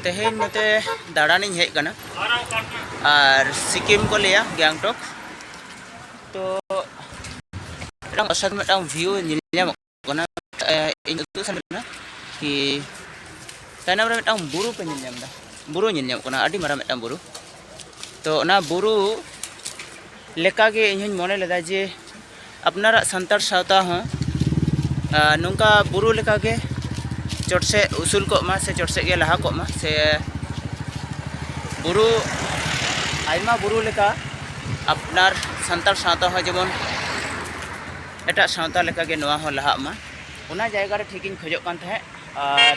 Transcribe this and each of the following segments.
ᱛᱮᱦᱮᱧ ᱱᱚᱛᱮ ᱫᱟᱬᱟᱱᱤᱧ ᱦᱮᱡ ᱠᱟᱱᱟ ᱟᱨ ᱥᱤᱠᱤᱢ ᱠᱚ ᱞᱟᱹᱭᱟ ᱜᱮᱝᱴᱚᱠ ᱛᱚ ᱢᱤᱫᱴᱟᱝ ᱚᱥᱟᱫ ᱢᱤᱫᱴᱟᱝ ᱵᱷᱤᱭᱩ ᱧᱮᱞ ᱧᱟᱢᱚᱜ ᱠᱟᱱᱟ ᱤᱧ ᱩᱫᱩᱜ ᱥᱟᱱᱟᱧ ᱠᱟᱱᱟ ᱠᱤ ᱛᱟᱭᱱᱚᱢ ᱨᱮ ᱢᱤᱫᱴᱟᱝ ᱵᱩᱨᱩ ᱯᱮ ᱧᱮᱞ ᱧᱟᱢ ᱮᱫᱟ ᱵᱩᱨᱩ ᱧᱮᱞ ᱧᱟᱢᱚᱜ ᱠᱟᱱᱟ ᱟᱹᱰᱤ ᱢᱟᱨᱟᱝ ᱢᱤᱫᱴᱟᱝ ᱵᱩᱨᱩ ᱛᱚ ᱚᱱᱟ ᱵᱩᱨᱩ ᱞᱮᱠᱟᱜᱮ ᱤᱧ ᱦᱚᱧ ᱢᱚᱱᱮ ᱞᱮᱫᱟ ᱡᱮ ᱟᱯᱱᱟᱨᱟᱜ ᱥᱟᱱᱛᱟᱲ ᱥᱟᱶᱛᱟ ᱦᱚᱸ ᱱᱚᱝᱠᱟ ᱵᱩᱨᱩ ᱞᱮᱠᱟᱜᱮ ᱪᱚᱴ ᱥᱮᱫ ᱩᱥᱩᱞ ᱠᱚᱜ ᱢᱟ ᱥᱮ ᱪᱚᱴ ᱥᱮᱫ ᱜᱮ ᱞᱟᱦᱟ ᱠᱚᱜ ᱢᱟ ᱥᱮ ᱵᱩᱨᱩ ᱟᱭᱢᱟ ᱵᱩᱨᱩ ᱞᱮᱠᱟ ᱟᱯᱱᱟᱨ ᱥᱟᱱᱛᱟᱲ ᱥᱟᱶᱛᱟ ᱦᱚᱸ ᱡᱮᱢᱚᱱ ᱮᱴᱟᱜ ᱥᱟᱶᱛᱟ ᱞᱮᱠᱟᱜᱮ ᱱᱚᱣᱟ ᱦᱚᱸ ᱞᱟᱦᱟᱜ ᱢᱟ ᱚᱱᱟ ᱡᱟᱭᱜᱟ ᱨᱮ ᱴᱷᱤᱠᱤᱧ ᱠᱷᱚᱡᱚᱜ ᱠᱟᱱ ᱛᱟᱦᱮᱸᱫ ᱟᱨ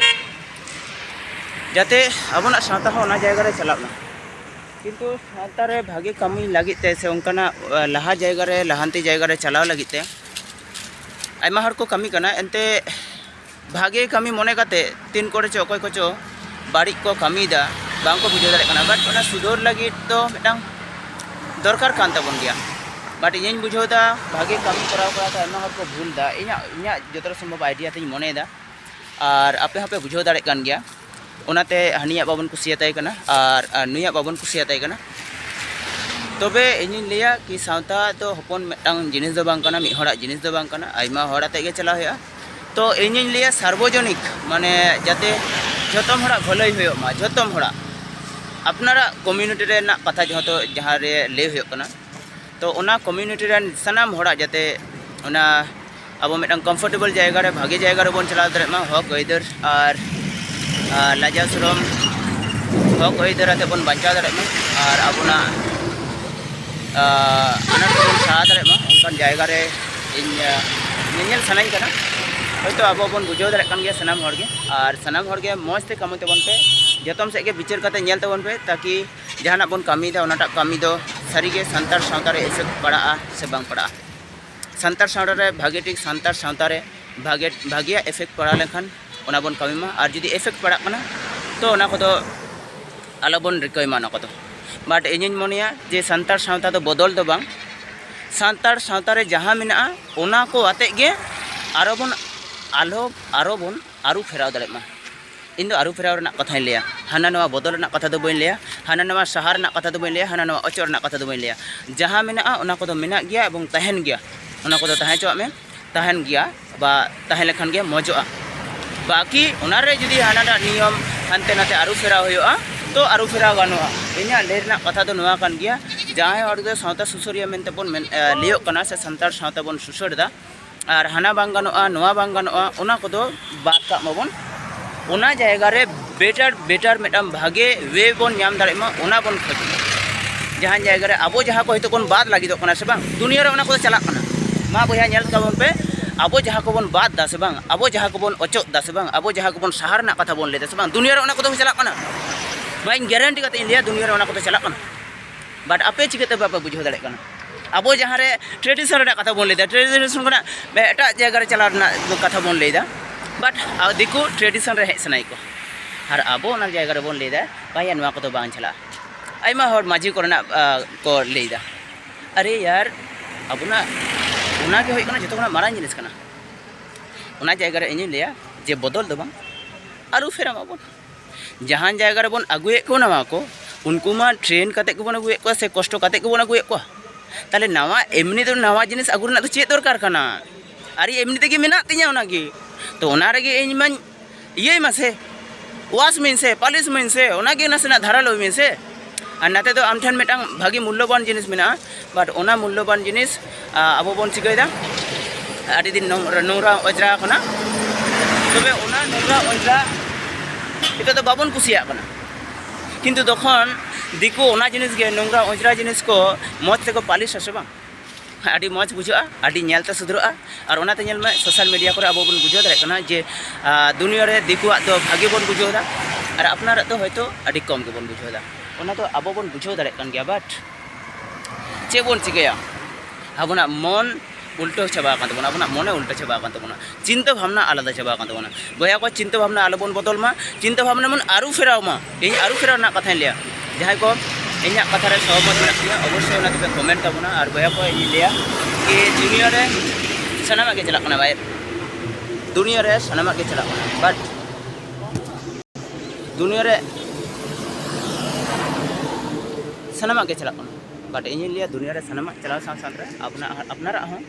ᱡᱟᱛᱮ ᱟᱵᱚᱱᱟᱜ ᱥᱟᱶᱛᱟ ᱦᱚᱸ ᱚᱱᱟ ᱡᱟᱭᱜᱟ ᱨᱮ ᱪᱟᱞᱟᱜ ᱢᱟ ᱠᱤᱱᱛᱩ ᱥᱟᱶᱛᱟ ᱨᱮ ᱵᱷᱟᱜᱮ ᱠᱟᱹᱢᱤ ᱞᱟᱹᱜᱤᱫ ᱛᱮ ᱥᱮ ᱚᱱᱠᱟᱱᱟᱜ ᱞᱟᱦᱟ ᱡᱟᱭᱜᱟ ᱨᱮ ᱞᱟᱦᱟᱱᱛᱤ ᱡᱟᱭᱜᱟ ᱨᱮ ᱪᱟᱞᱟᱣ ᱞᱟᱹᱜᱤᱫ ᱛᱮ ᱟᱭᱢᱟ ᱦᱚᱲ ᱠᱚ ᱠᱟᱹᱢᱤ ᱠᱟᱱᱟ ᱮᱱᱛᱮ ᱵᱷᱟᱜᱮ ᱠᱟᱹᱢᱤ ᱢᱚᱱᱮ ᱠᱟᱛᱮ ᱛᱤᱱ ᱠᱚᱨᱮ ᱪᱚ ᱚᱠᱚᱭ ᱠᱚᱪᱚ ᱵᱟᱹᱲᱤᱡ ᱠᱚ ᱠᱟᱹᱢᱤᱭᱮᱫᱟ ᱵᱟᱝ ᱠᱚ ᱵᱩᱡᱷᱟᱹᱣ ᱫᱟᱲᱮᱭᱟᱜ ᱠᱟᱱᱟ ᱵᱟᱴ ᱚᱱᱟ ᱥᱩᱫᱷᱟᱹᱨ ᱞᱟᱹᱜᱤᱫ ᱫᱚ ᱢᱤᱫᱴᱟᱝ ᱫᱚᱨᱠᱟᱨ ᱠᱟᱱ ᱛᱟᱵᱚᱱ ᱜᱮᱭᱟ ᱵᱟᱴ ᱤᱧᱤᱧ ᱵᱩᱡᱷᱟᱹᱣ ᱮᱫᱟ ᱵᱷᱟᱜᱮ ᱠᱟᱹᱢᱤ ᱠᱚᱨᱟᱣ ᱠᱚᱨᱟᱣ ᱛᱮ ᱟᱭᱢᱟ ᱦᱚᱲ ᱠᱚ ᱵᱷᱩᱞ ᱮᱫᱟ ᱤᱧᱟᱹᱜ ᱤᱧᱟᱹᱜ ᱡᱚᱛᱚ ᱥᱚᱢᱵᱷᱚᱵ ᱟᱭᱰᱤᱭᱟ ᱛᱤᱧ ᱢᱚᱱᱮᱭᱮᱫᱟ ᱟᱨ ᱟᱯᱮ ᱦᱚᱸᱯᱮ ᱵᱩᱡᱷᱟᱹᱣ ᱫᱟᱲᱮᱭᱟᱜ ᱠᱟᱱ ᱜᱮᱭᱟ ᱚᱱᱟᱛᱮ ᱦᱟᱹᱱᱤᱭᱟᱜ ᱵᱟᱵᱚᱱ ᱠᱩᱥᱤᱭᱟᱛᱟᱭ ᱠᱟᱱᱟ ᱟᱨ ᱱᱩᱭᱟᱜ ᱵᱟᱵᱚᱱ ᱠᱩᱥᱤᱭᱟᱛᱟᱭ ᱠᱟᱱᱟ ᱛᱚᱵᱮ ᱤᱧᱤᱧ ᱞᱟᱹᱭᱟ ᱠᱤ ᱥᱟᱶᱛᱟ ᱫᱚ ᱦᱚᱯᱚᱱ ᱢᱤᱫᱴᱟᱝ ᱡᱤᱱᱤᱥ ᱫᱚ ᱵᱟᱝ ᱠᱟᱱᱟ ᱢᱤᱫ ᱦᱚᱲᱟᱜ ᱡᱤᱱᱤᱥ ᱫᱚ ᱵᱟᱝ ᱠᱟᱱᱟ ᱟᱭᱢᱟ ᱦᱚᱲ ᱟᱛᱮ ᱜᱮ ᱪᱟᱞᱟᱣ ᱦᱩᱭᱩᱜᱼᱟ ᱛᱚ ᱤᱧᱤᱧ ᱞᱟᱹᱭᱟ ᱥᱟᱨᱵᱚᱡᱚᱱᱤᱠ ᱢᱟᱱᱮ ᱡᱟᱛᱮ ᱡᱚᱛᱚᱢ ᱦᱚᱲᱟᱜ ᱵᱷᱟᱹᱞᱟᱹᱭ ᱦᱩᱭᱩᱜ ᱢᱟ ᱡᱚᱛᱚᱢ ᱦᱚᱲᱟᱜ ᱟᱯᱱᱟᱨᱟᱜ ᱠᱚᱢᱤᱭᱩᱱᱤᱴᱤ ᱨᱮᱱᱟᱜ ᱠᱟᱛᱷᱟ ᱡᱚᱛᱚ ᱡᱟᱦᱟᱸ ᱨᱮ ᱞᱟᱹᱭ ᱦᱩᱭᱩᱜ ᱠᱟᱱᱟ ᱛᱚ ᱚᱱᱟ ᱠᱚᱢᱤᱭᱩᱱᱤᱴᱤ ᱨᱮᱱ ᱥᱟᱱᱟᱢ ᱦᱚᱲᱟᱜ ᱡᱟᱛᱮ ᱚᱱᱟ ᱟᱵᱚ ᱢᱤᱫᱴᱟᱝ ᱠᱚᱢᱯᱷᱚᱨᱴᱮᱵᱚᱞ ᱡᱟᱭᱜᱟ ᱨᱮ ᱵᱷᱟᱜᱮ ᱡᱟᱭᱜᱟ ᱨᱮᱵᱚᱱ ᱪᱟᱞᱟᱣ ᱫᱟᱲᱮᱭᱟᱜ ᱢᱟ ᱦᱚᱠ ᱟᱹᱭᱫᱟᱹᱨ ᱟᱨ ᱞᱟᱡᱟᱣ ᱥᱚᱨᱚᱢ ᱦᱚᱠ ᱟᱹᱭᱫᱟᱹᱨ ᱟᱛᱮ ᱵᱚᱱ ᱵᱟᱧᱪᱟᱣ ᱫᱟᱲᱮᱭᱟᱜ ᱢᱟ ᱟᱨ ᱟᱵᱚᱱᱟᱜ ᱟᱱᱟᱴ ᱠᱚᱵᱚᱱ ᱥᱟᱦᱟ ᱫᱟᱲᱮᱭᱟᱜ ᱢᱟ ᱚᱱᱠᱟᱱ ᱡᱟᱭᱜᱟ ᱨᱮ ᱤᱧ ᱧᱮᱧᱮᱞ ᱥᱟᱱᱟᱧ ᱠᱟᱱᱟ ᱦᱚᱭᱛᱳ ᱟᱵᱚ ᱵᱚᱱ ᱵᱩᱡᱷᱟᱹᱣ ᱫᱟᱲᱮᱭᱟᱜ ᱠᱟᱱ ᱜᱮᱭᱟ ᱥᱟᱱᱟᱢ ᱦᱚᱲ ᱜᱮ ᱟᱨ ᱥᱟᱱᱟᱢ ᱦᱚᱲ ᱜᱮ ᱢᱚᱡᱽ ᱛᱮ ᱠᱟᱹᱢᱤ ᱛᱟᱵᱚᱱ ᱯᱮ ᱡᱚᱛᱚᱢ ᱥᱮᱫ ᱜᱮ ᱵᱤᱪᱟᱹᱨ ᱠᱟᱛᱮ ᱧᱮᱞ ᱛᱟᱵᱚᱱ ᱯᱮ ᱛᱟᱠᱤ ᱡᱟᱦᱟᱱᱟᱜ ᱵᱚᱱ ᱠᱟᱹᱢᱤᱭᱮᱫᱟ ᱚᱱᱟᱴᱟᱜ ᱠᱟᱹᱢᱤ ᱫᱚ ᱥᱟᱹᱨᱤᱜᱮ ᱥᱟᱱᱛᱟᱲ ᱥᱟᱶᱛᱟ ᱨᱮ ᱮᱯᱷᱮᱠᱴ ᱯᱟᱲᱟᱜᱼᱟ ᱥᱮ ᱵᱟᱝ ᱯᱟᱲᱟᱜᱼᱟ ᱥᱟᱱᱛᱟᱲ ᱥᱟᱶᱛᱟ ᱨᱮ ᱵᱷᱟᱜᱮ ᱴᱷᱤᱠ ᱥᱟᱱᱛᱟᱲ ᱥᱟᱶᱛᱟ ᱨᱮ ᱵᱷᱟᱜᱮ ᱵᱷᱟᱜᱮᱭᱟᱜ ᱮᱯᱷᱮᱠᱴ ᱯᱟᱲᱟᱣ ᱞᱮᱱᱠᱷᱟᱱ ᱚᱱᱟ ᱵᱚᱱ ᱠᱟᱹᱢᱤ ᱢᱟ ᱟᱨ ᱡᱩᱫᱤ ᱮᱯᱷᱮᱠᱴ ᱯᱟᱲᱟᱜ ᱠᱟᱱᱟ ᱛᱚ ᱚᱱᱟ ᱠᱚᱫᱚ ᱟᱞᱚ ᱵᱚᱱ ᱨᱤᱠᱟᱹᱭ ᱢᱟ ᱚᱱᱟ ᱠᱚᱫᱚ ᱵᱟᱴ ᱤᱧᱤᱧ ᱢᱚᱱᱮᱭᱟ ᱡᱮ ᱥᱟᱱᱛᱟᱲ ᱥᱟᱶᱛᱟ ᱫᱚ ᱵᱚᱫᱚᱞ ᱫᱚ ᱵᱟᱝ ᱥᱟᱱᱛᱟᱲ ᱥᱟᱶᱛᱟ ᱨᱮ ᱡᱟᱦᱟᱸ ᱢᱮᱱᱟᱜᱼᱟ ᱚᱱᱟ ᱠᱚ ᱟᱛᱮᱫ ᱜᱮ ᱟᱨᱚ ᱵᱚᱱ ᱟᱞᱚ ᱟᱨᱚ ᱵᱚᱱ ᱟᱹᱨᱩ ᱯᱷᱮᱨᱟᱣ ᱫᱟᱲᱮᱜ ᱢᱟ ᱤᱧ ᱫᱚ ᱟᱹᱨᱩᱯᱷᱮᱨᱟᱣ ᱨᱮᱱᱟᱜ ᱠᱟᱛᱷᱟᱧ ᱞᱟᱹᱭᱟ ᱦᱟᱱᱟ ᱱᱚᱣᱟ ᱵᱚᱫᱚᱞ ᱨᱮᱱᱟᱜ ᱠᱟᱛᱷᱟ ᱫᱚ ᱵᱟᱹᱧ ᱞᱟᱹᱭᱟ ᱦᱟᱱᱟ ᱱᱚᱣᱟ ᱥᱟᱦᱟ ᱨᱮᱱᱟᱜ ᱠᱟᱛᱷᱟ ᱫᱚ ᱵᱟᱹᱧ ᱞᱟᱹᱭᱟ ᱦᱟᱱᱟ ᱱᱚᱣᱟ ᱚᱪᱚᱜ ᱨᱮᱱᱟᱜ ᱠᱟᱛᱷᱟ ᱫᱚ ᱵᱟᱹᱧ ᱞᱟᱹᱭᱟ ᱡᱟᱦᱟᱸ ᱢᱮᱱᱟᱜᱼᱟ ᱚᱱᱟ ᱠᱚᱫᱚ ᱢᱮᱱᱟᱜ ᱜᱮᱭᱟ ᱮᱵᱚᱝ ᱛᱟᱦᱮᱱ ᱜᱮᱭᱟ ᱚᱱᱟ ᱠᱚᱫᱚ ᱛᱟᱦᱮᱸ ᱦᱚᱪᱚᱣᱟᱜ ᱢᱮ ᱛᱟᱦᱮᱱ ᱜᱮᱭᱟ ᱵᱟ ᱛᱟᱦᱮᱸ ᱞᱮᱠᱷᱟᱱ ᱜᱮ ᱢᱚᱡᱚᱜᱼᱟ ᱵᱟᱠᱤ ᱚᱱᱟ ᱨᱮ ᱡᱩᱫᱤ ᱦᱟᱱᱟᱴᱟᱜ ᱱᱤᱭᱚᱢ ᱦᱟᱱᱛᱮ ᱱᱟᱛᱮ ᱟᱹᱨᱩᱯᱷᱮᱨᱟᱣ ᱦᱩᱭᱩᱜᱼᱟ ᱛᱚ ᱟᱹᱨᱩᱯᱷᱮᱨᱟᱣ ᱜᱟᱱᱚᱜᱼᱟ ᱤᱧᱟᱹᱜ ᱞᱟᱹᱭ ᱨᱮᱱᱟᱜ ᱠᱟᱛᱷᱟ ᱫᱚ ᱱᱚᱣᱟ ᱠᱟᱱ ᱜᱮᱭᱟ ᱡᱟᱦᱟᱸᱭ ᱦᱚᱲ ᱫᱚ ᱥᱟᱶᱛᱟ ᱥᱩᱥᱟᱹᱨᱤᱭᱟᱹ ᱢᱮᱱᱛᱮ ᱵᱚᱱ ᱞᱟᱹᱭᱟᱹᱜ ᱠᱟᱱᱟ ᱥᱮ ᱥᱟᱱᱛᱟᱲ ᱥᱟᱶᱛᱟ ᱵᱚᱱ ᱥᱩᱥᱟᱹᱨ ᱮᱫᱟ ᱟᱨ ᱦᱟᱱᱟ ᱵᱟᱝ ᱜᱟᱱᱚᱜᱼᱟ ᱱᱚᱣᱟ ᱵᱟᱝ ᱜᱟᱱᱚᱜᱼᱟ ᱚᱱᱟ ᱠᱚᱫᱚ ᱵᱟᱫ ᱠᱟᱜ ᱢᱟᱵᱚᱱ ᱚᱱᱟ ᱡᱟᱭᱜᱟ ᱨᱮ ᱵᱮᱴᱟᱨ ᱵᱮᱴᱟᱨ ᱢᱤᱫᱴᱟᱝ ᱵᱷᱟᱜᱮ ᱣᱮ ᱵᱚᱱ ᱧᱟᱢ ᱫᱟᱲᱮᱭᱟᱜ ᱢᱟ ᱚᱱᱟ ᱵᱚᱱ ᱠᱷᱚᱡᱚᱜ ᱢᱟ ᱡᱟᱦᱟᱸ ᱡᱟᱭᱜᱟ ᱨᱮ ᱟᱵᱚ ᱡᱟᱦᱟᱸ ᱠᱚ ᱦᱚᱭᱛᱳ ᱵᱚᱱ ᱵᱟᱫ ᱞᱟᱹᱜᱤᱫᱚᱜ ᱠᱟᱱᱟ ᱥᱮ ᱵᱟᱝ ᱫᱩᱱᱤᱭᱟᱹ ᱨᱮ ᱚᱱᱟ ᱠᱚᱫᱚ ᱪᱟᱞᱟᱜ ᱠᱟᱱᱟ ᱢᱟ ᱵᱚᱭᱦᱟ ᱧᱮᱞ ᱛᱟᱵᱚᱱ ᱯᱮ ᱟᱵᱚ ᱡᱟᱦᱟᱸ ᱠᱚᱵᱚᱱ ᱵᱟᱫ ᱫᱟ ᱥᱮ ᱵᱟᱝ ᱟᱵᱚ ᱡᱟᱦᱟᱸ ᱠᱚᱵᱚᱱ ᱚᱪᱚᱜ ᱫᱟ ᱥᱮ ᱵᱟᱝ ᱟᱵᱚ ᱡᱟᱦᱟᱸ ᱠᱚᱵᱚᱱ ᱥᱟᱦᱟ ᱨᱮᱱᱟᱜ ᱠᱟᱛᱷᱟ ᱵᱚᱱ ᱞᱟᱹᱭ ᱫᱟ ᱥᱮ ᱵᱟᱝ ᱫᱩᱱᱤᱭᱟᱹ ᱨᱮ ᱚᱱᱟ ᱠᱚᱫᱚ ᱪᱟᱞᱟᱜ ᱠᱟᱱᱟ ᱵᱟᱹᱧ ᱜᱮᱨᱮᱱᱴᱤ ᱠᱟᱛᱮ ᱤᱧ ᱞᱟᱹᱭᱟ ᱫᱩᱱᱤᱭᱟᱹ ᱨᱮ ᱚᱱᱟ ᱠᱚᱫᱚ ᱪᱟᱞᱟᱜ ᱠᱟᱱᱟ ᱵᱟᱴ ᱟᱯᱮ ᱪᱤᱠᱟᱹᱛᱮ ᱵᱟᱯᱮ ᱵᱩᱡᱷᱟᱹᱣ ᱫᱟᱲᱮᱭᱟᱜ ᱠᱟᱱᱟ ᱟᱵᱚ ᱡᱟᱦᱟᱸ ᱨᱮ ᱴᱨᱮᱰᱤᱥᱚᱱ ᱨᱮᱱᱟᱜ ᱠᱟᱛᱷᱟ ᱵᱚᱱ ᱞᱟᱹᱭᱫᱟ ᱴᱨᱮᱰᱤᱥᱚᱱ ᱠᱷᱚᱱᱟᱜ ᱮᱴᱟᱜ ᱡᱟᱭᱜᱟ ᱨᱮ ᱪᱟᱞᱟᱣ ᱨᱮᱱᱟᱜ ᱠᱟᱛᱷᱟ ᱵᱚᱱ ᱞᱟᱹᱭᱫᱟ ᱵᱟᱴ ᱫᱤᱠᱩ ᱴᱨᱮᱰᱤᱥᱚᱱ ᱨᱮ ᱦᱮᱡ ᱥᱟᱱᱟᱭᱮᱫ ᱠᱚᱣᱟ ᱟᱨ ᱟᱵᱚ ᱚᱱᱟ ᱡᱟᱭᱜᱟ ᱨᱮᱵᱚᱱ ᱞᱟᱹᱭᱫᱟ ᱵᱟᱝᱭᱟ ᱱᱚᱣᱟ ᱠᱚᱫᱚ ᱵᱟᱝ ᱪᱟᱞᱟᱜᱼᱟ ᱟᱭᱢᱟ ᱦᱚᱲ ᱢᱟᱹᱡᱷᱤ ᱠᱚᱨᱮᱱᱟᱜ ᱠᱚ ᱞᱟᱹᱭᱫᱟ ᱟᱨᱮ ᱭᱟᱨ ᱟᱵᱚᱱᱟᱜ ᱚᱱᱟᱜᱮ ᱦᱩᱭᱩᱜ ᱠᱟᱱᱟ ᱡᱚᱛᱚ ᱠᱷᱚᱱᱟᱜ ᱢᱟᱨᱟᱝ ᱡᱤᱱᱤᱥ ᱠᱟᱱᱟ ᱚᱱᱟ ᱡᱟᱭᱜᱟ ᱨᱮ ᱤᱧᱤᱧ ᱞᱟᱹᱭᱟ ᱡᱮ ᱵᱚᱫᱚᱞ ᱫᱚ ᱵᱟᱝ ᱟᱹᱨᱩ ᱯᱷᱮᱨᱟᱣ ᱢᱟᱵᱚᱱ ᱡᱟᱦᱟᱱ ᱡᱟᱭᱜᱟ ᱨᱮᱵᱚᱱ ᱟᱹᱜᱩᱭᱮᱫ ᱠᱚ ᱱᱟᱣᱟ ᱠᱚ ᱩᱱᱠᱩ ᱢᱟ ᱴᱨᱮᱱ ᱠᱟᱛᱮ ᱜᱮᱵᱚᱱ ᱟᱹᱜᱩᱭᱮᱫ ᱠᱚᱣᱟ ᱥᱮ ᱠᱚᱥᱴᱚ ᱠᱟᱛᱮ ᱜᱮᱵᱚᱱ ᱟᱹᱜᱩᱭᱮᱫ ᱠᱚᱣᱟ ᱛᱟᱦᱚᱞᱮ ᱱᱟᱣᱟ ᱮᱢᱱᱤ ᱫᱚ ᱱᱟᱣᱟ ᱡᱤᱱᱤᱥ ᱟᱹᱜᱩ ᱨᱮᱱᱟᱜ ᱫᱚ ᱪᱮᱫ ᱫᱚᱨᱠᱟᱨ ᱠᱟᱱᱟ ᱟᱨᱮ ᱮᱢᱱᱤ ᱛᱮᱜᱮ ᱢᱮᱱᱟᱜ ᱛᱤᱧᱟ ᱚᱱᱟ ᱜᱮ ᱛᱚ ᱚᱱᱟ ᱨᱮᱜᱮ ᱤᱧ ᱢᱟᱧ ᱤᱭᱟᱹᱭ ᱢᱟᱥᱮ ᱣᱟᱥ ᱢᱤᱧ ᱥᱮ ᱯᱟᱞᱤᱥ ᱢᱤᱧ ᱥᱮ ᱚᱱᱟ ᱜᱮ ᱱᱟᱥᱮᱱᱟᱜ ᱫᱷᱟᱨᱟᱞᱳᱭ ᱢᱮᱥᱮ ᱟᱨ ᱱᱟᱛᱮ ᱫᱚ ᱟᱢ ᱴᱷᱮᱱ ᱢᱤᱫᱴᱟᱝ ᱵᱷᱟᱹᱜᱤ ᱢᱩᱞᱞᱚᱵᱟᱱ ᱡᱤᱱᱤᱥ ᱢᱮᱱᱟᱜᱼᱟ ᱵᱟᱴ ᱚᱱᱟ ᱢᱩᱞᱞᱚᱵᱟᱱ ᱡᱤᱱᱤᱥ ᱟᱵᱚ ᱵᱚᱱ ᱪᱤᱠᱟᱹᱭᱮᱫᱟ ᱟᱹᱰᱤ ᱫᱤᱱ ᱱᱚᱝᱨᱟ ᱚᱡᱽᱨᱟ ᱟᱠᱟᱱᱟ ᱛᱚᱵᱮ ᱚᱱᱟ ᱱᱚᱝᱨᱟ ᱚᱡᱽᱨᱟ ᱱᱤᱛᱚᱜ ᱫᱚ ᱵᱟᱵᱚᱱ ᱠᱩᱥᱤᱭᱟᱜ ᱠᱟᱱᱟ ᱠᱤᱱᱛᱩ ᱛᱚᱠᱷᱚᱱ ᱫᱤᱠᱩ ᱚᱱᱟ ᱡᱤᱱᱤᱥ ᱜᱮ ᱱᱚᱝᱨᱟ ᱚᱡᱽᱨᱟ ᱡᱤᱱᱤᱥ ᱠᱚ ᱢᱚᱡᱽ ᱛᱮᱠᱚ ᱯᱟᱹᱞᱤᱥ ᱟᱥᱮ ᱵᱟᱝ ᱟᱹᱰᱤ ᱢᱚᱡᱽ ᱵᱩᱡᱷᱟᱹᱜᱼᱟ ᱟᱹᱰᱤ ᱧᱮᱞᱛᱮ ᱥᱩᱫᱷᱨᱟᱹᱜᱼᱟ ᱟᱨ ᱚᱱᱟᱛᱮ ᱧᱮᱞ ᱢᱮ ᱥᱳᱥᱟᱞ ᱢᱤᱰᱤᱭᱟ ᱠᱚᱨᱮ ᱟᱵᱚ ᱵᱚᱱ ᱵᱩᱡᱷᱟᱹᱣ ᱫᱟᱲᱮᱭᱟᱜ ᱠᱟᱱᱟ ᱡᱮ ᱫᱩᱱᱤᱭᱟᱹ ᱨᱮ ᱫᱤᱠᱩᱣᱟᱜ ᱫᱚ ᱵᱷᱟᱜᱮ ᱵᱚᱱ ᱵᱩᱡᱷᱟᱹᱣ ᱮᱫᱟ ᱟᱨ ᱟᱯᱱᱟᱨᱟᱜ ᱫᱚ ᱦᱚᱭᱛᱳ ᱟᱹᱰᱤ ᱠᱚᱢ ᱜᱮᱵᱚᱱ ᱵᱩᱡᱷᱟᱹᱣ ᱮᱫᱟ ᱚᱱᱟ ᱫᱚ ᱟᱵᱚ ᱵᱚᱱ ᱵᱩᱡᱷᱟᱹᱣ ᱫᱟᱲᱮᱭᱟᱜ ᱠᱟᱱ ᱜᱮᱭᱟ ᱵᱟᱴ ᱪᱮᱫ ᱵᱚᱱ ᱪᱤᱠᱟᱹᱭᱟ ᱟᱵᱚᱱᱟᱜ ᱢᱚᱱ ᱩᱞᱴᱟᱹᱣ ᱪᱟᱵᱟ ᱟᱠᱟᱱ ᱛᱟᱵᱚᱱᱟ ᱟᱵᱚᱱᱟᱜ ᱢᱚᱱᱮ ᱩᱞᱴᱟᱹ ᱪᱟᱵᱟ ᱟᱠᱟᱱ ᱛᱟᱵᱚᱱᱟ ᱪᱤᱱᱛᱟᱹ ᱵᱷᱟᱵᱽᱱᱟ ᱟᱞᱟᱫᱟ ᱪᱟᱵᱟ ᱟᱠᱟᱱ ᱛᱟᱵᱚᱱᱟ ᱵᱚᱭᱦᱟ ᱠᱚ ᱪᱤᱱᱛᱟᱹ ᱵᱷᱟᱵᱽᱱᱟ ᱟᱞᱚ ᱵᱚᱱ ᱵᱚᱫᱚᱞ ᱢᱟ ᱪᱤᱱᱛᱟᱹ ᱵᱷᱟᱵᱽᱱᱟ ᱵᱚᱱ ᱟᱹᱨᱩ ᱯᱷᱮᱨᱟᱣ ᱢᱟ ᱤᱧ ᱟᱹᱨᱩ ᱯᱷᱮᱨᱟᱣ ᱨᱮᱱᱟᱜ ᱠᱟᱛᱷᱟᱧ ᱞᱟᱹᱭᱟ ᱡᱟᱦᱟᱸᱭ ᱠᱚ ᱤᱧᱟᱹᱜ ᱠᱟᱛᱷᱟ ᱨᱮ ᱥᱚᱦᱚᱢᱚᱛ ᱢᱮᱱᱟᱜ ᱯᱮᱭᱟ ᱚᱵᱚᱥᱥᱳᱭ ᱚᱱᱟ ᱫᱚᱯᱮ ᱠᱚᱢᱮᱱᱴ ᱛᱟᱵᱚᱱᱟ ᱟᱨ ᱵᱚᱭᱦᱟ ᱠᱚ ᱤᱧ ᱞᱟᱹᱭᱟ ᱠᱤ ᱫᱩᱱᱤᱭᱟᱹ ᱨᱮ ᱥᱟᱱᱟᱢᱟᱜ ᱜᱮ ᱪᱟᱞᱟᱜ ᱠᱟᱱᱟ ᱵᱟᱭ ᱫᱩᱱᱤᱭᱟᱹ ᱨᱮ ᱥᱟᱱᱟᱢᱟᱜ ᱜᱮ ᱪᱟᱞᱟᱜ ᱠᱟᱱᱟ ᱵᱟᱴ ᱫᱩᱱᱤᱭᱟᱹ ᱨᱮ ᱥᱟᱱᱟᱢᱟᱜ ᱜᱮ ᱪᱟᱞᱟᱜ ᱠᱟᱱᱟ ᱵᱟᱴ ᱤᱧᱤᱧ ᱞᱟᱹᱭᱟ ᱫᱩᱱᱤᱭᱟᱹ ᱨᱮ ᱥᱟᱱᱟᱢᱟᱜ ᱪᱟᱞᱟᱣ ᱥᱟᱶ ᱥᱟᱶᱛᱮ ᱟᱯᱱᱟᱨᱟᱜ ᱦᱚᱸ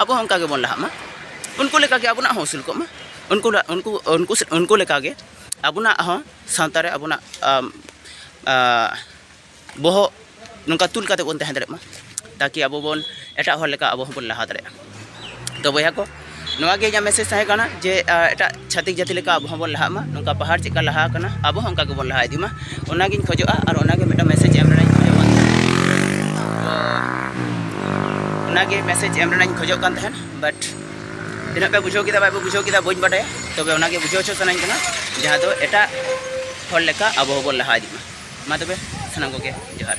ᱟᱵᱚ ᱦᱚᱸ ᱚᱱᱠᱟ ᱜᱮᱵᱚᱱ ᱞᱟᱦᱟᱜ ᱢᱟ ᱩᱱᱠᱩ ᱞᱮᱠᱟ ᱜᱮ ᱟᱵᱚᱱᱟᱜ ᱦᱚᱸ ᱩᱥᱩᱞ ᱠᱚᱜ ᱢᱟ ᱩᱱᱠᱩ ᱩᱱᱠᱩ ᱩᱱᱠᱩ ᱩᱱᱠᱩ ᱞᱮᱠᱟ ᱜᱮ ᱟᱵᱚᱱᱟᱜ ᱦᱚᱸ ᱥᱟᱶᱛᱟ ᱨᱮ ᱟᱵᱚᱱᱟᱜ ᱵᱚᱦᱚᱜ ᱱᱚᱝᱠᱟ ᱛᱩᱞ ᱠᱟᱛᱮᱫ ᱵᱚᱱ ᱛᱟᱦᱮᱸ ᱫᱟᱲᱮᱭᱟᱜ ᱢᱟ ᱛᱟᱠᱤ ᱟᱵᱚ ᱵᱚᱱ ᱮᱴᱟᱜ ᱦᱚᱲ ᱞᱮᱠᱟ ᱟᱵᱚ ᱦᱚᱸᱵᱚᱱ ᱞᱟᱦᱟ ᱫᱟᱲᱮᱭᱟᱜᱼᱟ ᱛᱚ ᱵᱚᱭᱦᱟ ᱠᱚ ᱱᱚᱣᱟ ᱜᱮ ᱤᱧᱟᱹᱜ ᱢᱮᱥᱮᱡᱽ ᱛᱟᱦᱮᱸ ᱠᱟᱱᱟ ᱡᱮ ᱮᱴᱟᱜ ᱪᱷᱟᱹᱛᱤᱠ ᱡᱟᱹᱛᱤ ᱞᱮᱠᱟ ᱟᱵᱚ ᱦᱚᱸᱵᱚᱱ ᱞᱟᱦᱟᱜ ᱢᱟ ᱱᱚᱝᱠᱟ ᱯᱟᱦᱟᱲ ᱪᱮᱫᱠᱟ ᱞᱟᱦᱟ ᱟᱠᱟᱱᱟ ᱟᱵᱚ ᱦᱚᱸ ᱚᱱᱠᱟ ᱜᱮᱵᱚᱱ ᱞᱟᱦᱟ ᱤᱫᱤᱜ ᱢᱟ ᱚᱱᱟᱜᱤᱧ ᱠᱷᱚᱡᱚᱜᱼᱟ ᱟᱨ ᱚᱱᱟᱜᱮ ᱢᱤᱫᱴᱟᱝ ᱢᱮᱥᱮᱡᱽ ᱮᱢ ᱨᱮᱱᱟᱜ ᱤᱧ ᱠᱷᱚᱡᱚᱜ ᱠᱟᱱ ᱛᱟᱦᱮᱸᱫ ᱚᱱᱟᱜᱮ ᱢᱮᱥᱮᱡᱽ ᱮᱢ ᱨᱮᱱᱟᱜ ᱤᱧ ᱠᱷᱚᱡᱚᱜ ᱠᱟᱱ ᱛᱟᱦᱮᱸᱫ ᱵᱟᱴ ᱛᱤᱱᱟᱹᱜ ᱯᱮ ᱵᱩᱡᱷᱟᱹᱣ ᱠᱮᱫᱟ ᱵᱟᱭ ᱯᱮ ᱵᱩᱡᱷᱟᱹᱣ ᱠᱮᱫᱟ ᱵᱟᱹᱧ ᱵᱟᱰᱟᱭᱟ ᱛᱚᱵᱮ ᱚᱱᱟᱜᱮ ᱵᱩᱡᱷᱟᱹᱣ ᱦᱚᱪᱚ ᱥᱟᱱᱟᱧ ᱠᱟᱱᱟ ᱡᱟᱦᱟᱸ ᱫᱚ ᱮᱴᱟᱜ ᱦᱚᱲ ᱞᱮᱠᱟ ᱟᱵᱚ ᱦᱚᱸᱵᱚᱱ ᱞᱟᱦᱟ ᱤᱫᱤᱜ ᱢᱟ ᱢᱟ ᱛᱚᱵᱮ ᱥᱟᱱᱟᱢ ᱠᱚᱜᱮ ᱡᱚᱦᱟᱨ